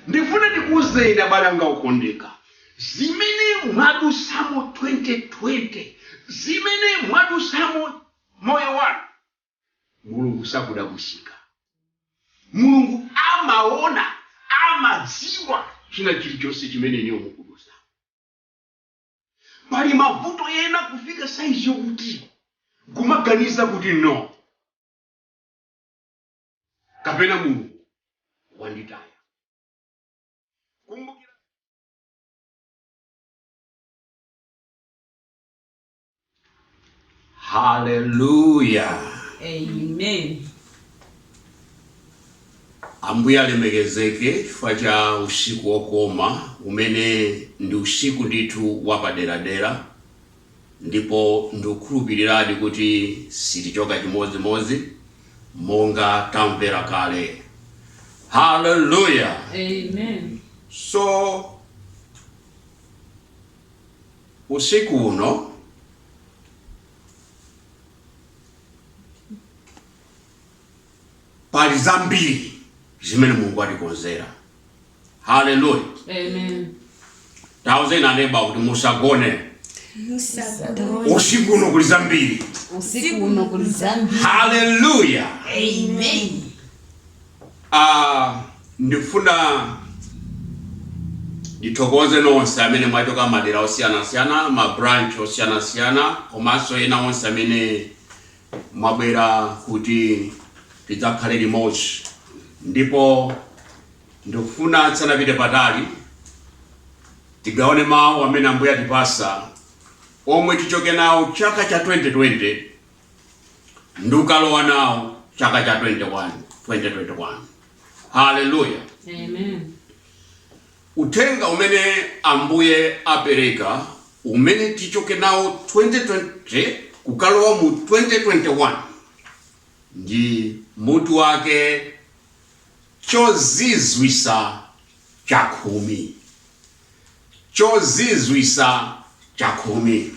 Ndifuna ndikuuzeni abale anga okondeka, zimene mwadutsamo 2020, zimene mwadutsamo moyo wanu, Mulungu sakudabwitsika. Mulungu amaona, amadziwa china chilichonse chimene inuyo mukudutsamo. Pali mavuto ena kufika size yokuti kumaganiza kuti no kapena Mulungu wanditaya. Kumbukira haleluya Amen. ambuye alemekezeke chifukwa cha usiku wokoma umene ndi usiku ndithu wapaderadera ndipo ndikukhulupiriradi kuti sitichoka chimodzimodzi monga tamvera kale haleluya Amen. so usiku uno, pali zambiri zimene mulungu atikonzera haleluya Amen. tauzeni aneba kuti musagone usiku uno kuli zambiri Usiku uno kuli zambiri. haleluya Amen. Aaa ndifuna ndithokoze nonse amene mwachoka madera osiyanasiyana ma branch osiyanasiyana komanso ena onse amene mwabwera kuti tidzakhale limodzi ndipo ndikufuna tisanapite patali tigawane mawu amene Ambuye atipasa omwe tichoke nawo chaka cha 2020 ndi kukalowa nawo chaka cha 21 2021 haleluya Amen. uthenga umene ambuye apereka umene tichoke nawo 2020 kukalowa mu 2021 ndi mutu wake chozizwisa chakhumi chozizwisa chakhumi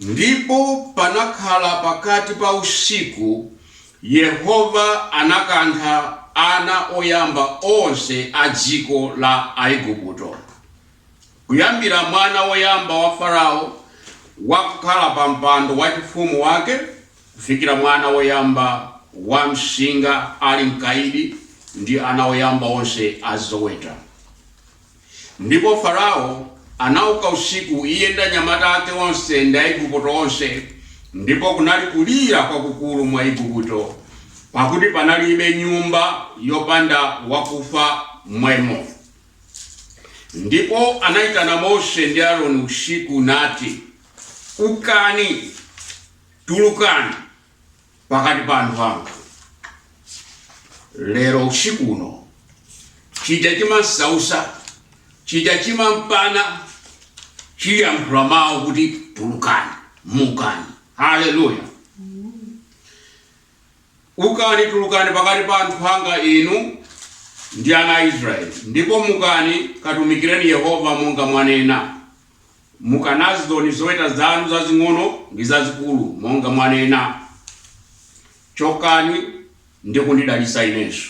Ndipo panakhala pakati pa usiku, Yehova anakantha ana oyamba onse a dziko la Aigupto, kuyambira mwana woyamba wa Farao wakukhala pa mpando wachifumu wake, kufikira mwana woyamba wam'nsinga ali mkaidi, ndi ana oyamba onse a zoweta. Ndipo Farao anauka usiku, iye ndi anyamata ake onse, ndi Aigupto onse, ndipo kunali kulira kwakukulu mu Aigupto, pakuti panalibe nyumba yopanda wakufa m'mwemo. Ndipo anaitana Mose ndi Aroni usiku, nati, Ukani, tulukani. pakati pa anthu anga lero usiku uno chija chimasausa chija chimampana chiyankhula mawu kuti tulukani mukani haleluya ukani tulukani pakati pa anthu anga inu ndi ana a israeli ndipo mukani katumikireni yehova monga mwanena mukanazizoni zoweta zanu zazing'ono ndi zazikulu, monga mwanena. Chokani ndi kundidalitsa inenso.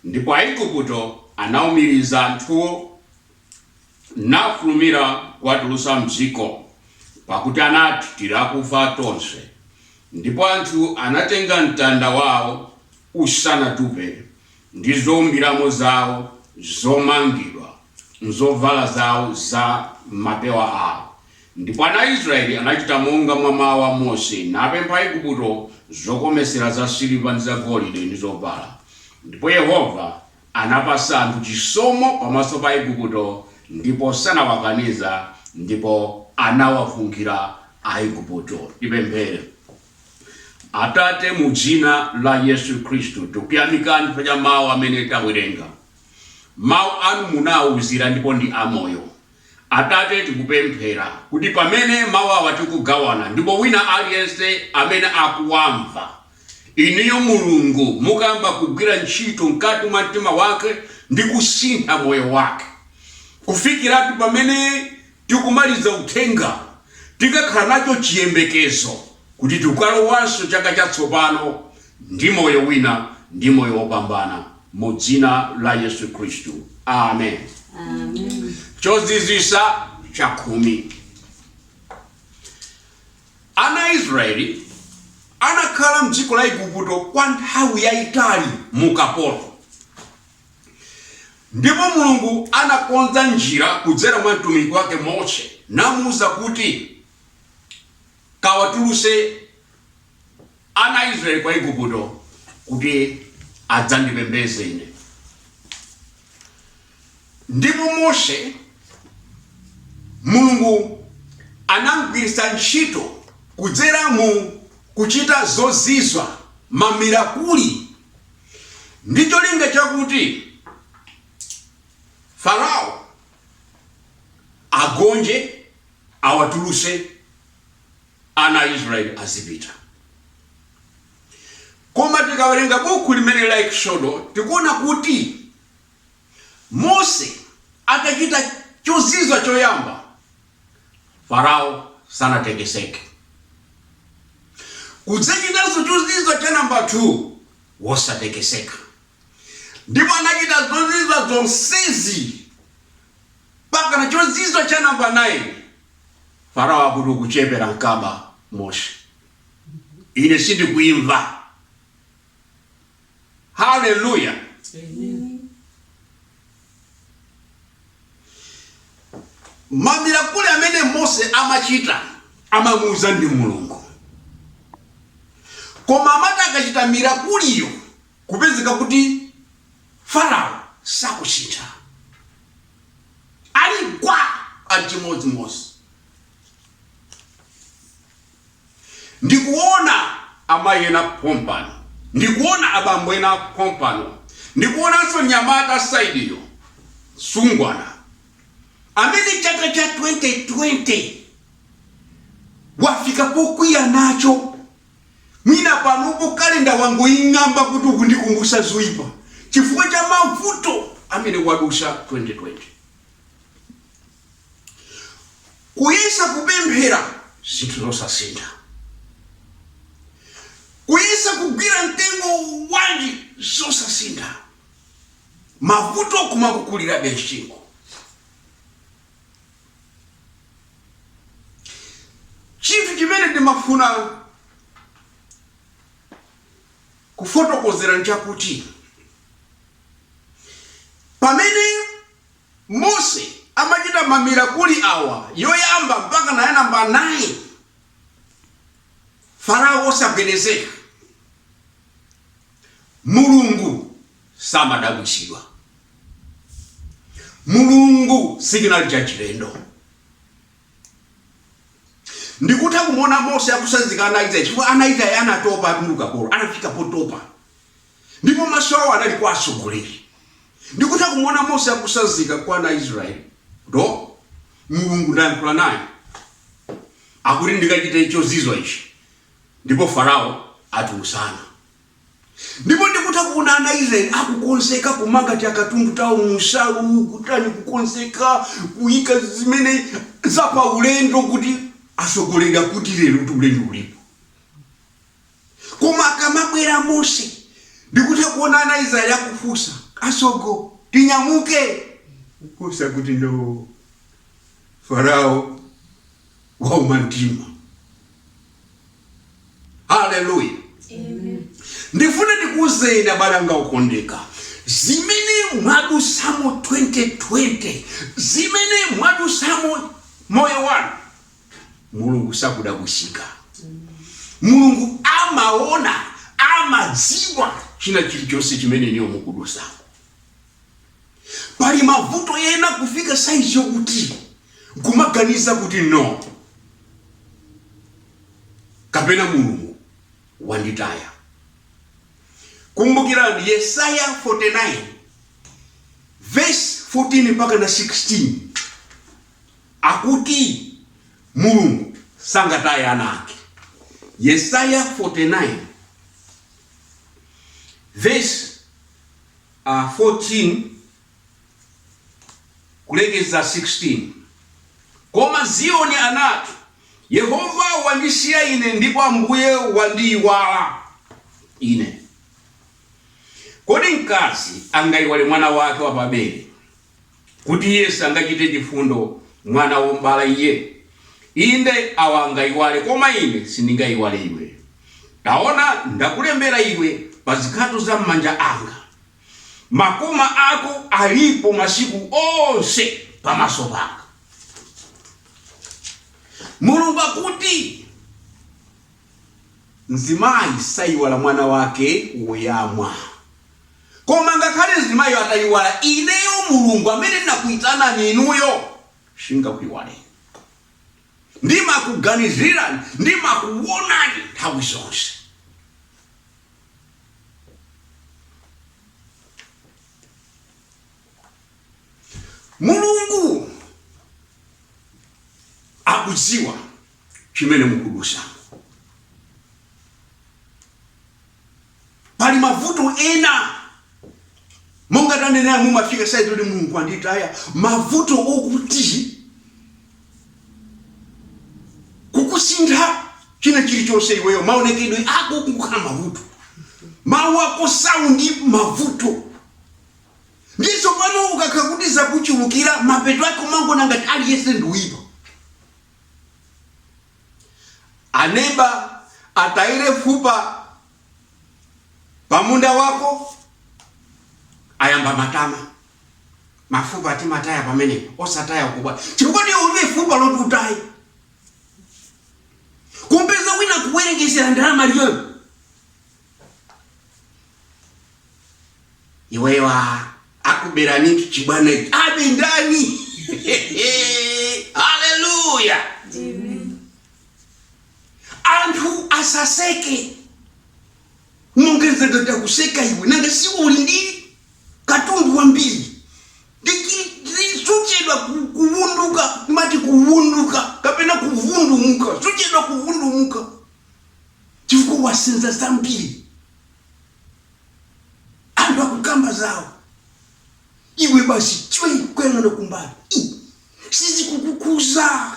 Ndipo Aigupto anaumiriza anthuwo, nafulumira kuwatulutsa m'dziko, pakuti anati, Tili akufa tonse. Ndipo anthu anatenga mtanda wao usanatupe, ndi zoumbiramo zawo zomangidwa m'zovala zawo za m'mapewa awo. Ndipo ana a Israeli anachita monga mwa mawu a Mose, napempha Aigupto zokometsera zasiliva ndi zagolide, ndi zovala, ndipo Yehova anapatsa anthu chisomo pamaso pa Aigupto, ndipo sanawakaniza, ndipo anawafunkhira Aigupto. Tipemphere. Atate, mu dzina la Yesu Khristu, tikuyamikani chifukwa cha mawu amene tawerenga. Mawu anu munawauzira ndipo ndi amoyo. Atate, tikupemphera kuti pamene mawu awa tikugawana, ndipo wina aliyense amene akuwamva, inuyo Mulungu mukayamba kugwira ntchito mkati mwa mtima wake ndi kusintha moyo wake kufikira kuti pamene tikumaliza uthenga, tikakhala nacho chiyembekezo kuti tikalowanso chaka chatsopano ndi moyo wina ndi moyo wopambana mu dzina la Yesu Khristu. Amen. Chozizwisa chakhumi. Ana a Israeli anakhala mdziko la Iguputo kwa nthawi yayitali mu ukapolo. Ndipo Mulungu anakonza njira kudzera mwa mtumiki wake Mose namuuza kuti, Kawatulutse ana a Isiraeli kwa Iguputo kuti adzandipembedze ine. Ndipo Mose, Mulungu anam'gwiritsa ntchito kudzera mu kuchita zozizwa, mamirakuli. ndi cholinga chakuti farao agonje awatuluse ana a israeli azipita koma tikawerenga buku limene la eksodo tikuona kuti mose atachita chozizwa choyamba Farao sanatekeseke. Kudzachitanso chozizwa cha namba 2 wosatekeseka. Ndipo anachita zozizwa zonsezi mpakana chozizwa cha namba 9 Farao akuti ukuchepera nkaba Mose, ine sindikuimva. haleluya mamirakuli amene mose amachita amamuuza ndi mulungu koma amati akachita mirakuliyo kupezeka kuti farao sakusintha ali gwa ali chimodzimodzi Ndikuona amayi ena pompano. Ndikuona abambo ena pompano. Ndikuonanso mnyamata saidiyo, mtsungwana, amene chaka cha 2020 wafika pokwiya nacho. Mwina panopo kalenda wangoing'amba kuti ukundikumbutsa zoipa chifukwa cha mavuto amene wadutsa 2020. Kuyesa kupemphera zinthu zosasintha. Kuyesa kugwira mtengo wanji zosasintha. Mavuto kumakukulirabe msinkhu. Chinthu chimene ndimafuna kufotokozera nchakuti pamene Mose amachita mamirakuli awa, yoyamba mpakana ya namba 9, Farao wosagwedezeka. Mulungu samadabwitsidwa. Mulungu sichinali chachilendo. Ndikutha kumuona Mose akutsanzika ana a Israeli, chifukwa ana a Israeli anatopa ali mu ukapolo, anafika potopa. Ndipo maso awo anali kwa atsogoleri, ndikutha kumuona Mose akutsanzika kwa ana a Israeli, kuti, O, Mulungu ndayankhula naye, akuti ndikachite chozizwa ichi, ndipo Farao atulutsa ana. Ndipo ndikutha kuona ana a Israeli akukonzeka kumanga tiakatundu tawo mu nsalu, kutani, kukonzeka, kuyika zimene za paulendo, kuti atsogoleri akuti, Lero kuti ulendo ulipo. koma akamabwera mose ndikutha kuona ana israeli akufunsa asogoleri tinyamuke kusadziwa kuti no farao wauma mtima haleluya ndifuna ndikuuzeni abale anga okondeka zimene mwadusamo 2020 zimene mwadusamo moyo wanu mulungu sakudabwisika mulungu amaona amadziwa china chilichonse chimene inuyo mukudusamo pali mavuto ena kufika saizi yokuti kumaganiza kuti no kapena mulungu wanditaya kumbukirani yesaya 49 verse 14 mpakana 16 akuti Mulungu sangataye ana ake. Yesaya 49 verse 14 kulekeza 16 Koma Ziyoni anati, Yehova wandisiya ine, ndipo Ambuye wandiyiwala ine. Kodi mkazi angayiwale mwana wake wapabere? kuti Iye sangachite chifundo mwana wom'bala Iye? Inde, awa angaiwale, koma Ine sindingaiwale iwe. Taona, ndakulembera iwe pa zikhato za m'manja Anga. Makoma ako alipo masiku onse pamaso Panga. Mulungu akuti. Mzimayi saiwala mwana wake woyamwa. Koma ngakhale mzimayiyo ataiwala, ineyo Mulungu amene ndinakuitanani inuyo, sin'ngakuiwaleni. Ndimakuganizirani, ndimakuonani nthawi zonse. Mulungu akudziwa. chimene mukudusamo. Pali mavuto ena monga tanenera mumafika saizi kuti mulungu anditaya mavuto okuti kukusintha china chilichonse iweyo maonekedwe ako kukhala mavuto mawu ako saundi mavuto ndiso pano ukakhala kuti zakuchulukira mapeto ake umangoona ngati aliyense ndi woyipa anaba atayire fupa pamunda wako ayamba matama mafupa amataya pameme osataya kumbwa chifukwa ndiye ulibe fupa loti utaye kumpeza wina kuwerengetsera ndalama liyoyo iweyo a- akuberani chibwana abe ndani haleluya anthu asaseke mongezedwa atakuseka iwe nanga si uli ndi katundu wambiri suchedwa kuvunduka ndimati kuvunduka kapena kuvundumuka suchedwa kuvundumuka chifukwa wasenza zambiri anthu akukamba zawo iwe basi chwe kuyang'ana kumbali sizikukukhuza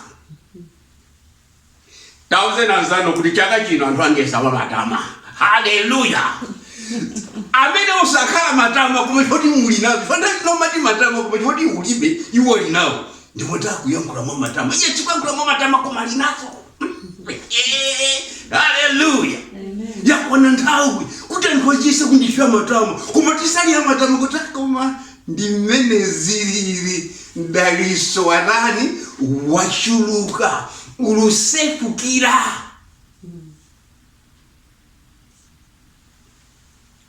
tauze nanzanu kuti chaka chino anthu angoyesa wa matama haleluya Amen osakhala matama koma choti muli nazo ena timati matama koma choti ulibe iwo ali nawo ndikuti akuyankhula mwa matama iye sakuyankhula mwa matama koma ali nazo haleluya yakwana nthawi kuti anthu atiyese kuti tili ndi matama koma tisali a matama kuti "Ah, koma ndi mmene zilili mdaliso watani wachuluka ukusefukira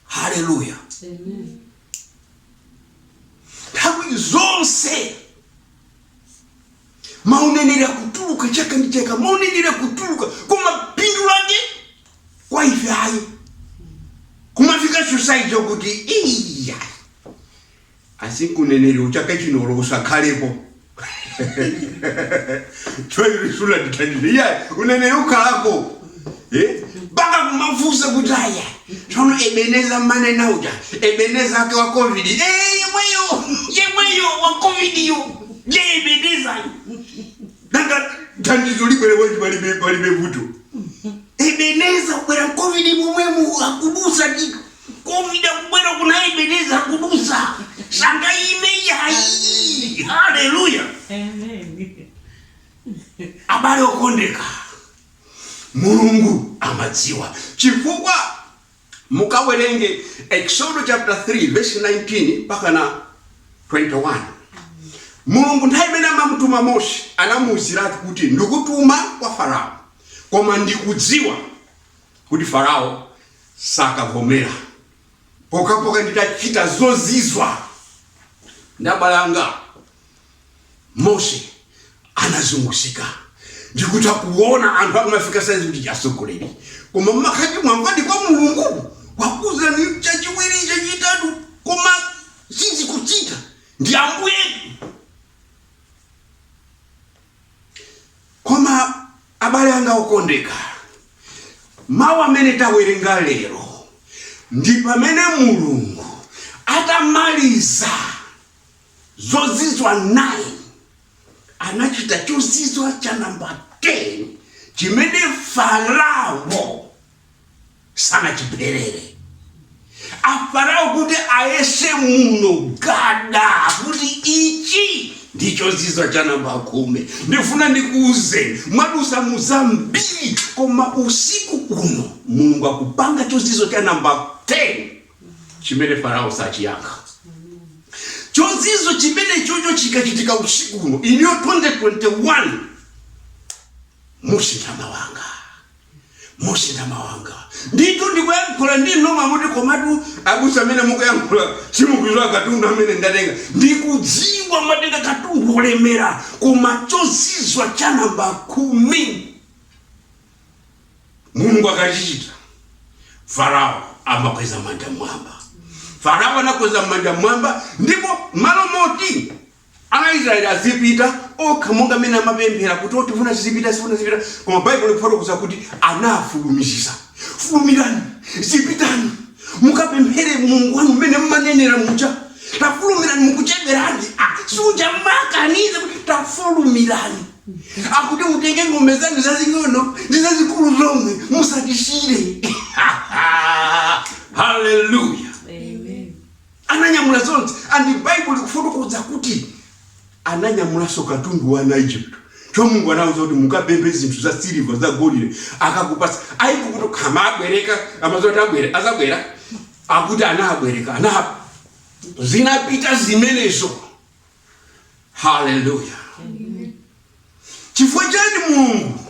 haleluya Amen. nthawi zonse Mauneneri akutuluka chaka ndi chaka, mauneneri akutuluka, koma phindu lake kwa ife ayi. Kumafika society yokuti iya basi uneneri wa chaka chino olo usakhalepo sunandithandize iya uneneri ukhalako Eh? mpaka kumafunsa kuti aya tsono ebeneza mmanena uja ebeneza ake wa covid Eh, yemweyo yemweyo wa covidiyo ebeneza nanga thandizo libwere bwanji palibe palibe vuto ebeneza kubwera covid momwemo akudutsa ndi covid akubwera kuna ebeneza akudutsa sangaime ayi haleluya Amen. abale okondedwa Mulungu amadziwa chifukwa mukawerenge Eksodo chapter 3 verse 19 mpakana 21. Mulungu nthawi imene amamutuma Mose anamuuziratu kuti ndikutuma kwa Farao koma ndikudziwa kuti Farao sakavomera pokhapokha nditachita zozizwa ndiye abale anga. mose anazunguzika ndikuti akuona anthu akumafika saizi kuti chasogoleri koma mmakati mwangwadi kwa mulungu wakuzani chachiwiri chachitatu koma sizikuchitika ndi ambuyetu koma abale anga okondedwa mawu amene tawerenga lero ndi pamene mulungu atamaliza zozizwa 9 anachita chozizwa cha namba 10 chimene farao sanachipherere afarao kuti ayese muno gada kuti ichi ndi chozizwa cha namba khumi ndifuna ndikuuze mwadusa muzambiri koma usiku uno mulungu akupanga chozizwa cha namba 10 chimene farao sachiyankha chozizwa chimenecho chikachitika usiku uno iniyo 2021 musintha mawanga musintha mawanga ndithu ndikuyankhula ndi noma muti komatu abusa amene mukuyankhula simukuziwa katundu amene ndatenga ndikudziwa mwatenga katundu wolemera koma chozizwa cha namba khumi mulungu akachichita farao amakweza manja mmwamba farao anakweza manja mmwamba ndipo malo moti ana israeli azipita okha monga mmene amapemphera kuti tikufuna tizipita tifuna tizipita koma baibulo likufotokoza kuti anafulumiza fulumirani zipitani mukapemphere mulungu wanu mmene mmanenera muja tafulumirani mukucheberani Ah, paja mmakaniza kuti tafulumirani akuti mutenge ng'ombe zanu zazing'ono ndi zazikulu zomwe musatisiyire haleluya Amen. ananyamula zonse and baibulo likufotokoza kuti ananyamulanso katundu wa ana Ijipt cho mulungu anawuza kuti mukapemphe zinthu za siliva za golide akakupasa iwo kuti akamabwereka amaziwa kuti azabwera akuti anabwereka zinapita zimenezo haleluya chifukwa chani mulungu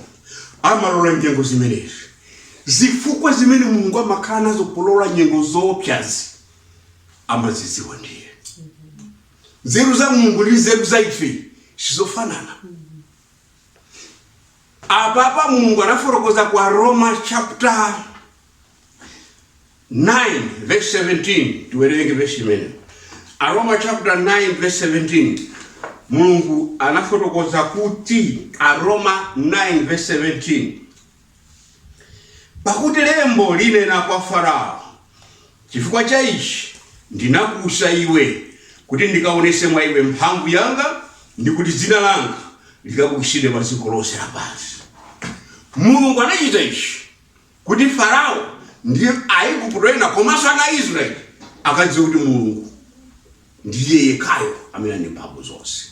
amalola nyengo zimenezi zifukwa zimene mulungu amakhala nazo polola nyengo zoopsazi amazidziwa ndiye nzeru za mulungu ndi nzeru za ife sizofanana apapa mulungu anafotokoza kwa roma chapter 9 verse 17 tiwerenge verse imene aroma chapter 9 verse 17 mulungu anafotokoza kuti aroma 9 verse 17 pakuti lembo linena kwa farao chifukwa cha ichi ndinakuutsa iwe kuti ndikaonetse mwa iwe mphamvu yanga ndi kuti dzina langa likabukitsidwe pa dziko lonse lapansi mulungu anachita ichi kuti Farao ndi Aiguputo ena komanso ana a Isiraeli akadziwe kuti Mulungu ndi iye yekhayo amene ali ndi mphamvu zonse.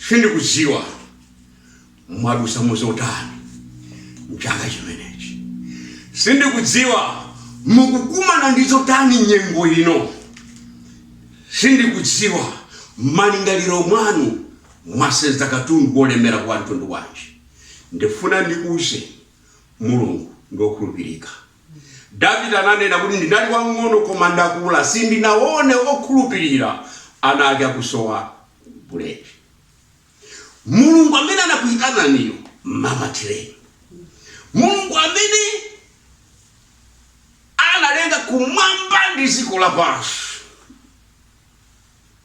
Sindikudziwa mwadutsa mu zotani m'chaka chimenechi. Sindikudziwa mukukumana ndi zotani nyengo ino. Sindikudziwa m'malingaliro mwanu mwasenza katundu wolemera wa mtundu wanji. Ndifuna ndikuuzeni Mulungu ndi okhulupirika. Davide ananena kuti ndinali wamng'ono koma ndakula sindinaone okhulupirira ana ake akusowa buledi. Mulungu amene anakuitananiyo mmamatireni. Mulungu amene analenga kumwamba ndi dziko lapansi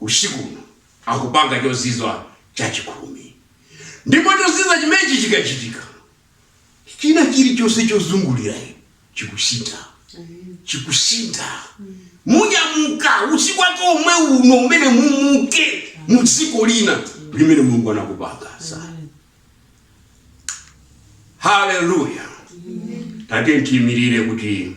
usiku uno akupanga chozizwa chachikhumi. Ndipo chozizwa chimenechi chikachitika, china chilichonse chozungulira inu chikusintha, chikusintha. Munyamuka usiku wake omwe uno umene mumuke mu dziko lina limene Mulungu anakupanganitsani. Haleluya! Tate, tiimirire kuti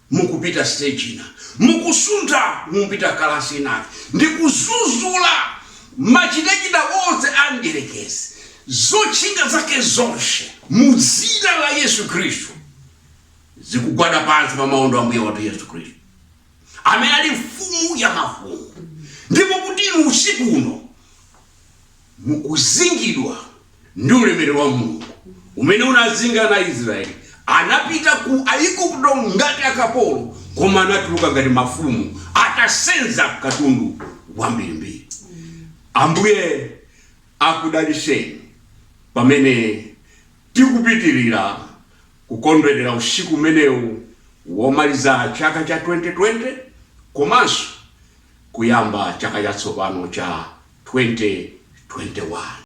mukupita stage ina, mukusuntha mupita kalasi inayake, ndi kuzuzula machitachita onse a mdyerekezi, zotchinga zake zonse, mu Dzina la Yesu Khristu, zikugwada pansi pa maondo a Ambuye wathu Yesu Khristu, amene ali Mfumu ya mafumu, ndipo kuti inu usiku uno mukuzingidwa ndi ulemerero wa Mulungu umene unazinga ana a Israyeli, anapita ku Aigupto ngati akapolo, koma anatuluka ngati mafumu, atasenza katundu wambirimbiri. Ambuye akudalitseni pamene tikupitirira kukondwerera usiku umenewu womaliza chaka cha 2020 komanso kuyamba chaka chatsopano cha 2021.